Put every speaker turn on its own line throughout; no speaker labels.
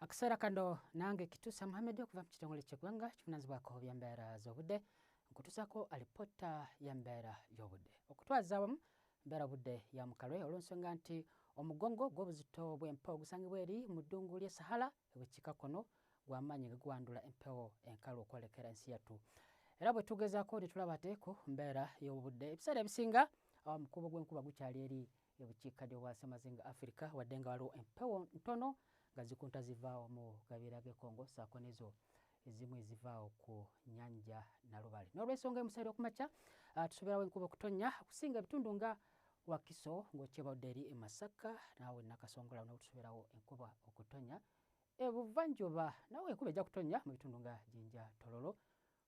akaseera kano nange kitusa muhamedi okuva mu kitongole kyegwanga kivunanyizibwako byambeera zobudde nkutusako alipota yambeera yobudde okutwaza awamu mbeera budde ya mukalwe olwensonga nti omugongo gwobuzito bwempa ogusangibwa eri mu ddungu lye sahala ebukiika kono gwamaanyi nga guwandula empewo enkalu okwolekera ensi yattu era bwe tugezaako ne tulaba ate ku mbeera y'obudde ebiseera ebisinga awo omukuubo gw'enkuba gukyali eri ebukiikaddyo bwa ssemazinga afirika wadde nga waliwo empewo ntono nga zikunta zivaawo mu gabeera g'ekongo saako nezo ezimu ezivaawo ku nyanja nalubale n'olwensonga emusaire okumakya ah, tusoberawo enkuba okutonya okusinga ebitundu nga wakiso ng'okyebawudde eri emasaka naawe nakasongolawo nawe tusoberawo enkuba okutonya ebuvanjuba nawe enkuba ejja kutonya mu bitundu nga jinja tololo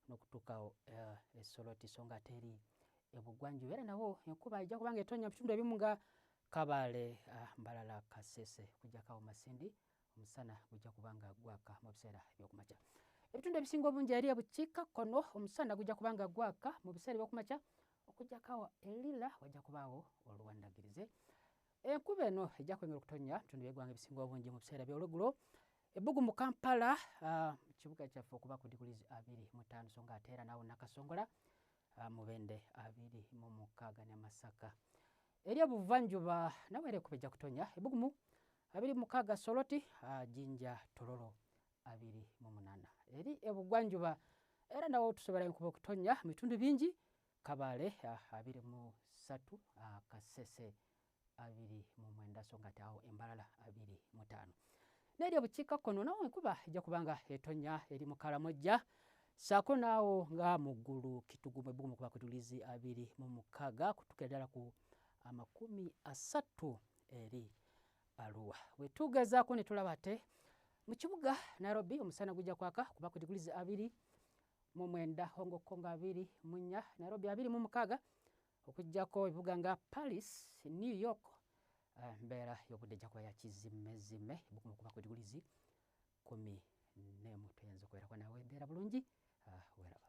nokutuuka awo eh, e Soroti so nga ate eri ebugwanjuba era nawo enkuba ejja kubanga etonya bitundu ebimu nga Kabale, ah, Mbalala, Kasese kujjakawo Masindi omusana gujja kubanga gwaka mu biseera ebyokumakya. Ebitundu ebisinga obungi eri ebukiika kkono omusana gujja kubanga gwaka mu biseera ebyokumakya okujjakawo e Lira wajja kubaawo oluwandagirize Enkuba eno ejja kwengera okutonnya mu bitundu by'eggwanga ebisinga obungi mu biseera by'olwegulo ebbugu mu Kampala ah, mu kibuga kyaffe okuba ku diguli abiri mu ttaano so nga ate era naawo Nakasongola ah, mu bende abiri mu mukaaga ne Masaka. Eri obuvanjuba nawe era ekuba ejja kutonnya ebbugu mu abiri mu mukaaga Soroti, ah, Jinja, Tororo abiri mu munaana. Eri ebugwanjuba era nawo tusobola enkuba okutonnya mu bitundu bingi Kabale abiri mu ssatu Kasese abiri mu mwenda so ngate awo embalala abiri mu taano n'eri obukiikakkono nawo enkuba ejja kubanga etonya eri mu kalamojja saako naawo nga mu ggulu kitugumu ebbugumu kuba kutulizi abiri mu mukaaga kutuka eddala ku amakumi asatu eri aluwa wetugezaako ne tulaba ate mu kibuga nairobi omusana gujja kwaka kuba ku digulizi abiri mu mwenda Hong Kong abiri mu nnya Nairobi abiri mu mukaaga okuggyako ebibuga nga Paris, New York eh, mbeera y'obudde ejja kuba yakizimmezime bukuma okuba ku digulizi kumi n'emu tuyinza okubeerako nawe embeera bulungi eh, weraba